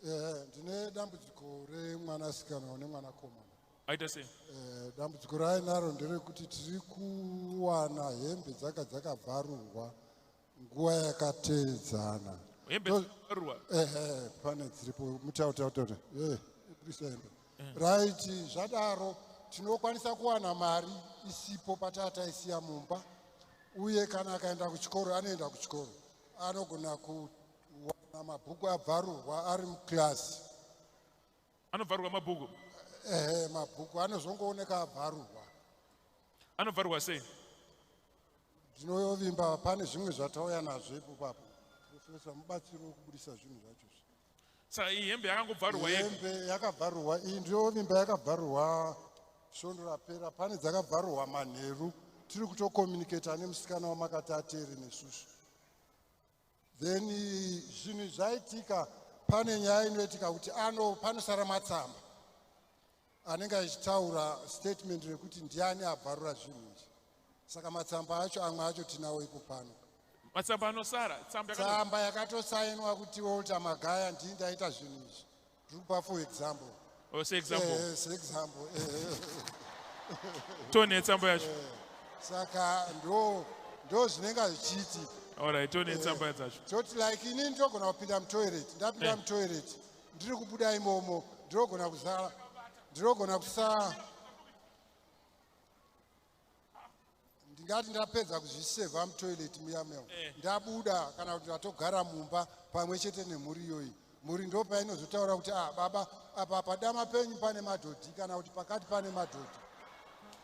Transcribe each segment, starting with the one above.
eh, ndine dambudziko remwanasikana one mwanakomana aita sei eh, dambudziko raainaro nderekuti tiri kuwana hembe dzaka dzakabvarurwa nguva yakateedzana hembe dzakabvarurwa ehe pane dziripo mutautautaura eh, budisa hembe right zvadaro tinokwanisa kuwana mari isipo patataisiya mumba uye kana akaenda kuchikoro anoenda kuchikoro anogona kuwana mabhuku abvarurwa ari mukirasi anobvarurwa mabhuku ehe mabhuku anozongooneka abvarurwa anobvarurwa sei ndinovimba pane zvimwe zvatauya nazvo ipopapo profesa mubatsiri wekubudisa zvinhu zvacho sa iyi hembe yakangobvarurwa hembe yakabvarurwa iyi ndiyo vimba yakabvarurwa svondo rapera pane dzakabvarurwa manheru tiri kutokomunicata nemusikana wamakati ateere nesusu then zvinhu zvaitika pane nyaya inoitika kuti ano panosara matsamba anenge achitaura statement rekuti ndiani abvarura zvinhu izvi saka matsamba acho amwe acho tinawo ipo pano matsamba anosara tsamba yakatosainwa kuti walter magaya ndii ndaita zvinhu izvi tiri kupa for example oh, seexample eh, eh, eh, tone tsamba yacho saka ndo ndo zvinenge zvichiitika tone tsamba dzacho toti like inini ndogona kupinda mutoilet ndapinda mutoilet ndiri kubuda imomo ndinogona kuzala ndinogona kusaa ndingati ndapedza kuzviseva mutoilet muya meo eh. ndabuda kana kuti ndatogara mumba pamwe chete nemhuri iyoyi mhuri ndo painozotaura kuti ah baba apa padama penyu pane madhodhi kana kuti pakati pane madhodhi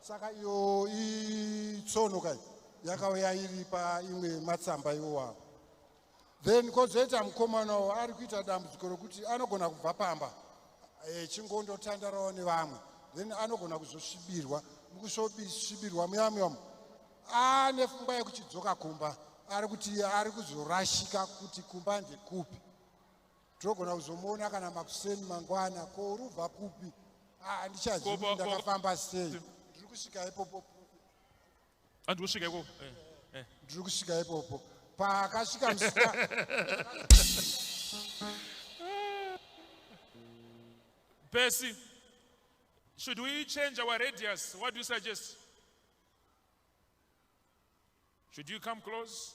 saka iyo itsono kai yakauya iri paimwe matsamba iwowawo then kozoita mukomanawo ari kuita dambudziko rokuti anogona kubva pamba echingondotandarawo eh, nevamwe then anogona kuzosvibirwa mukusvibirwa muyamuyamo ane fungwa yekuchidzoka kumba ari kuti ari kuzorashika kuti kumba ndekupi togona kuzomuona kana makuseni mangwana ko uri ubva kupi ah, ndichazivi ndakafamba sei ndiri kusvika ipopo andiri ah, kusvika ipopo eh, eh. ndiri kusvika ipopo paakasvika musika Percy, should we change our radius? What do you suggest? Should you come close?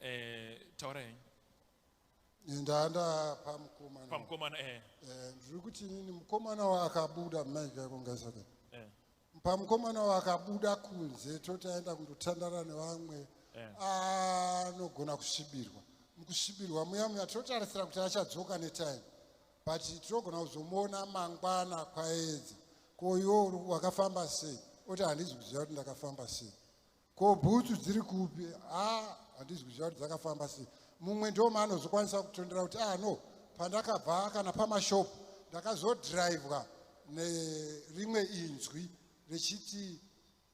eh, taura henyu ndaanda pamukomana pamukomana eh. eh, ndiri kuti inini mukomana waakabuda maigakongaisaka eh. pamukomana waakabuda kunze toti aenda kundotandara nevamwe eh. anogona kusvibirwa mukusvibirwa muya muya tinotarisira kuti achadzoka netime but tinogona kuzomuona mangwana kwaedza ko iwo wakafamba sei oti handizi kuziva kuti ndakafamba sei ko bhutsu dziri kupi a handizi kuziva kuti dzakafamba sei mumwe ndoma anozokwanisa kutondera kuti a ah, no pandakabva kana pamashopu ndakazodhiraivwa nerimwe inzwi richiti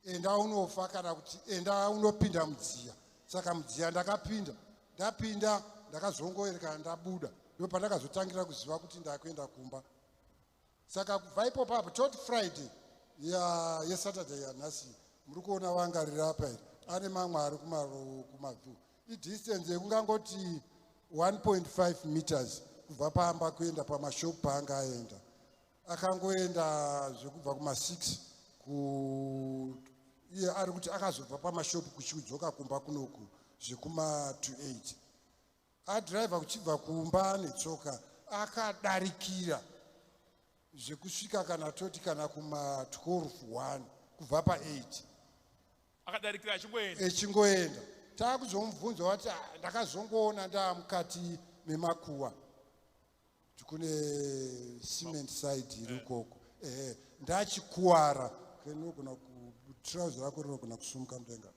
enda unofa kana kuti enda unopinda mudziya saka mudziya ndakapinda ndapinda ndakazongoerekana ndabuda ndo pandakazotangira kuziva kuti ndakuenda kumba saka kubva ipopo apo tot friday yesaturday yanhasi muri kuona wangarira apa iri ane mamwe ari kumavhu idistance yekungangoti 1.5 meters kubva paamba kuenda pamashop paanga aenda akangoenda zvekubva kuma6 iye ari kuti akazobva pamashop kuchiudzoka kumba kunoku zvekuma28 Adriver kuchibva kumba netsoka akadarikira zvekusvika kana toti kana kuma 12 1 kubva pa 8 akadarikira achingoenda echingoenda taakuzomubvunza wati "Ah, ndakazongoona ndaamukati memakuwa tikune cement side iri ukoko ehe ndachikuwara kenogona kutrauzi rako rinogona kusumuka mudenga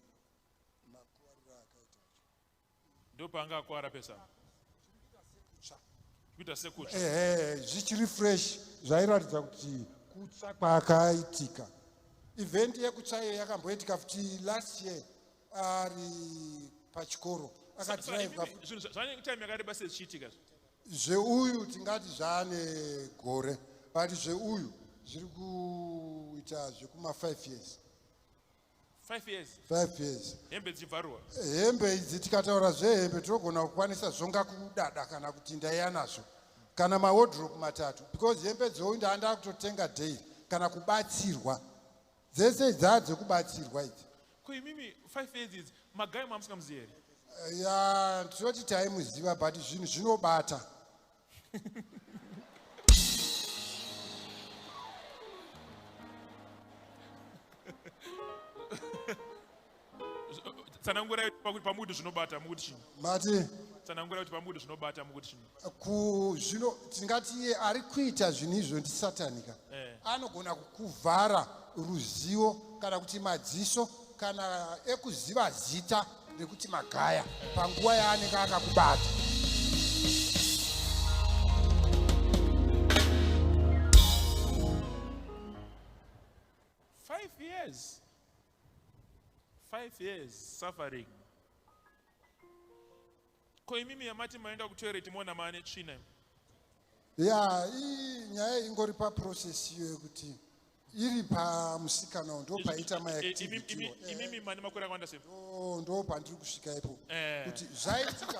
ndopaanga akwara pesa kuita sekutsva ehe zvichiri fresh zvairatidza kuti kutsva kwaakaitika event yekutsvayo yakamboitika futi last year ari pachikoro akadrivezvanektime yakareba se zvichiitika zveuyu tingati zvaane gore but zveuyu zviri kuita zvekuma five years 5 years 5 years hembe dzichibvarwa hembe idzi tikataura zvehembe tinogona kukwanisa zvonga kudada kana kuti ndaiya nazvo kana mawodrop matatu because hembe dzou ndaanda kutotenga daily kana kubatsirwa dzese dzaa dzekubatsirwa idzi ko imimi 5 years idzi magai mamusingamuzivi here ya tinoti taimuziva but zvinhu zvinobata tsanangura pamukuti zvinobata mukuti chii mati tsanangura kuti pamukuti zvinobata mukuti chii ku zvino tingati iye ari kuita zvinhu izvo ndisatanika eh. anogona kukuvhara ruzivo kana kuti madziso kana ekuziva zita rekuti magaya panguva yaanenge akakubata five years five years suffering Ko imimi yamati maenda kutoilet moona maane tsvina imi. Ya, iyi nyaya ingori pa process iyo yekuti iri pamusikana uyu ndo paita ma Eh, imi- activity imi- iwo. Eh, Imimi mane makore akawanda sei? ndo- ndo pandiri kusvika ipo Eh. kuti zvaitika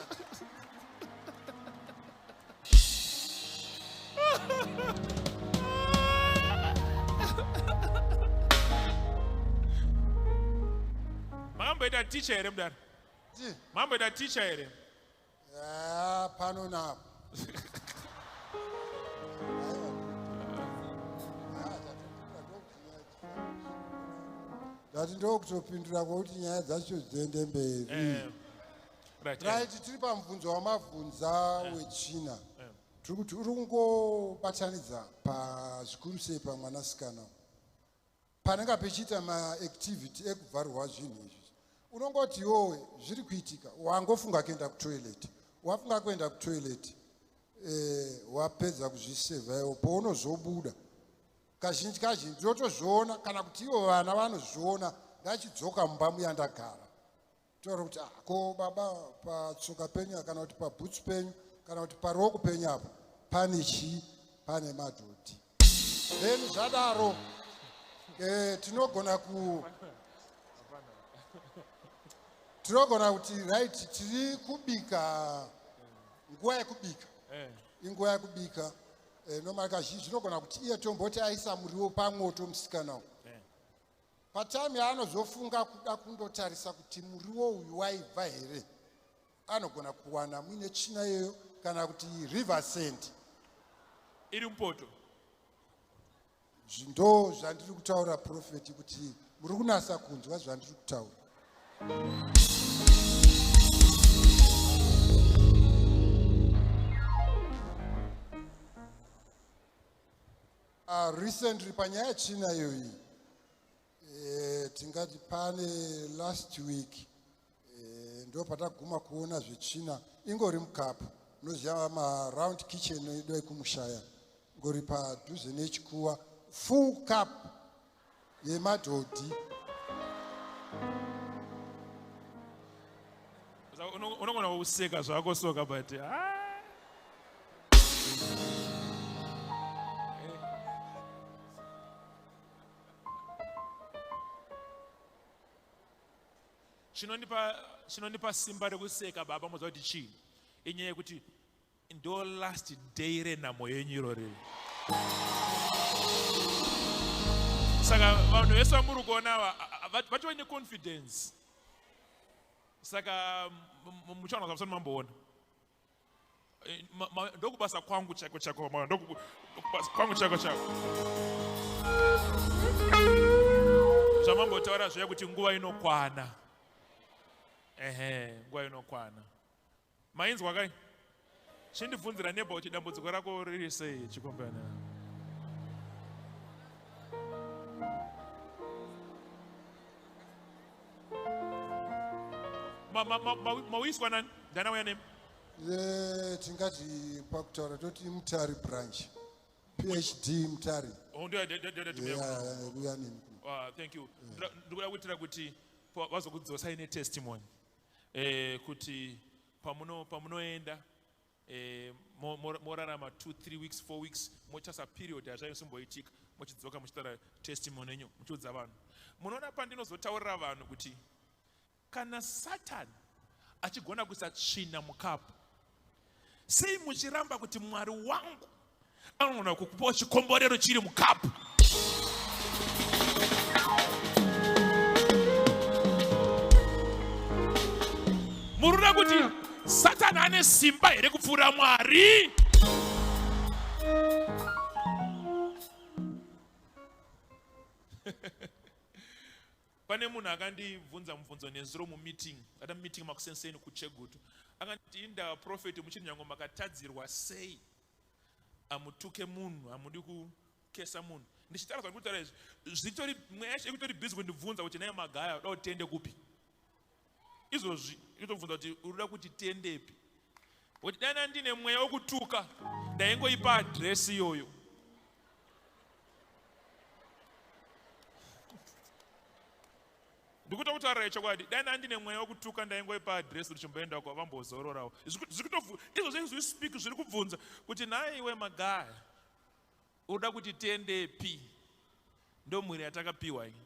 Makamboita teacher here mudare? Ti. Mamboita teacher here? Yeah, pano napo. Ndati ndokutopindura kwekuti nyaya dzacho dziende mberi. Eh. Right, eh. right tiri pamubvunzo wamabvunza eh. wechina. Eh. Tiri kuti uri kungobatanidza pazvikuru sei pamwanasikana. panenge pechiita maactivity ekubvarwa zvinhu izvi unongoti yowe zviri kuitika wangofunga kuenda kutoilet wafunga kuenda kutoilet eh, wapedza kuzvisevhaiwo pounozobuda kazhinji kazhinji ndinotozviona kana kuti ivo vana vanozviona ndachidzoka mumba muyandagara taura kuti ah, ko baba patsoka penyu kana kuti pabhutsu penyu kana kuti paruoko penyu apo pane chii pane madhodhi then zvadaro eh, tinogona ku tinogona kuti right tiri kubika nguva yekubika eh. inguva yekubika eh, nomari kazhinji tinogona kuti iye tomboti aisa muriwo pamwoto musikana uyu Patime yaanozofunga kuda kundotarisa kuti muriwo uyu waibva here, anogona kuwana muine china iyoyo kana kuti river sand iri mupoto. Ndo zvandiri kutaura profeti kuti muri kunasa kunzwa zvandiri kutaura. Uh, recently panyaya china iyoyi eh, tingati pane last week eh, ndo pataguma kuona zvechina ingori mukapu munoziva maround kitchen idoi kumushaya ngori padhuze nechikuwa full cup yemadhodhi unogona kuseka zvako soka but ah. chinondipa simba rekuseka baba moziva kuti chii inyaya yekuti Ndo last day renhamo yenyu irori. Saka vanhu vese vamuri kuona vatove neconfidence. Saka muchaona zvamusati mamboona. Eh, ndokubasa kwangu chako chako mama ndokubasa kwangu chako chako zvamambotaura zviya kuti nguva inokwana ehe nguva inokwana Mainzwa kai? Chindibvunzira neba kuti dambudziko rako riri sei chikombana. Mawiswa nani? Ndana uya name? Eh, tingati pakutaura toti mutari branch phd mutari oh, uyanini ah, thank you ndikuda kuitira kuti vazokudzosai netestimony eh, kuti pamuno pamunoenda eh, morarama 2 3 weeks 4 weeks mochasa period hazvaisimboitika mochidzoka muchitaura testimony yenyu muchiudza vanhu munoona pandinozotaurira vanhu kuti kana satani achigona kuisa tsvina mukapu Sei muchiramba kuti Mwari wangu anogona kukupawo chikomborero chiri mukapu? Murikuda kuti Satani ane simba here kupfuura Mwari? Pane munhu akandibvunza mubvunzo nezuro mumeeting, ata meeting makusenseni kuChegutu. Akanditi inda prophet muchiri nyango makatadzirwa sei? Amutuke munhu, amudi kukesa munhu. Ndichitaura zvandikutaura izvi, zvitori mweya yekutori busy kundibvunza kuti naye magaya uda kutende kupi? izvozvi itobvunza kuti urikuda kuti tiendepi kuti dai ndandine mweya wokutuka ndaingoipa adresi iyoyo ndikuda kutaura chokwadi dai ndandine mweya wokutuka ndaingoipa adresi kuti chimboendako vambozororawo izvo zvezvi speak zviri kubvunza kuti nhai iwe magaya unoda kuti tiendepi ndomhuri yatakapiwa iyi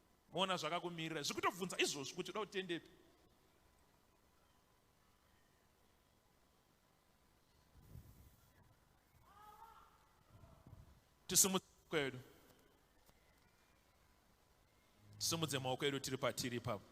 moona zvakakumirira zvekutobvunza izvozvi kuti uda utendepi tisimudze maoko edu tisimudze maoko edu tiri patiri ipapo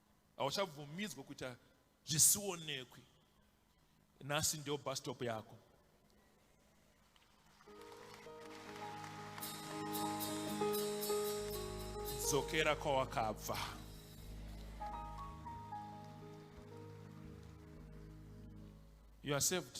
hauchabvumidzwa kuita zvisionekwi nhasi ndiyo bastop yako dzokera kwawakabva you are saved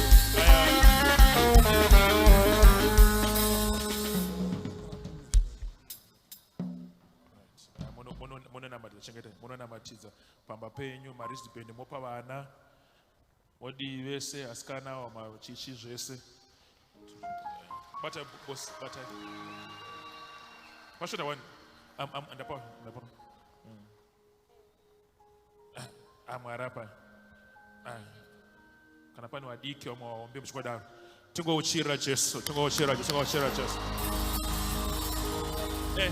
kuratidza pamba penyu marisdband mopa vana modii vese asikana awa machichi zvese bata bos bata mashota wani ndapa ndapa Ah, ah mwari apa ah. kana pane vadiki vamwe vaombe muchikwadaro tingouchirira jesu tingouchirira jesu tingouchirira jesu eh.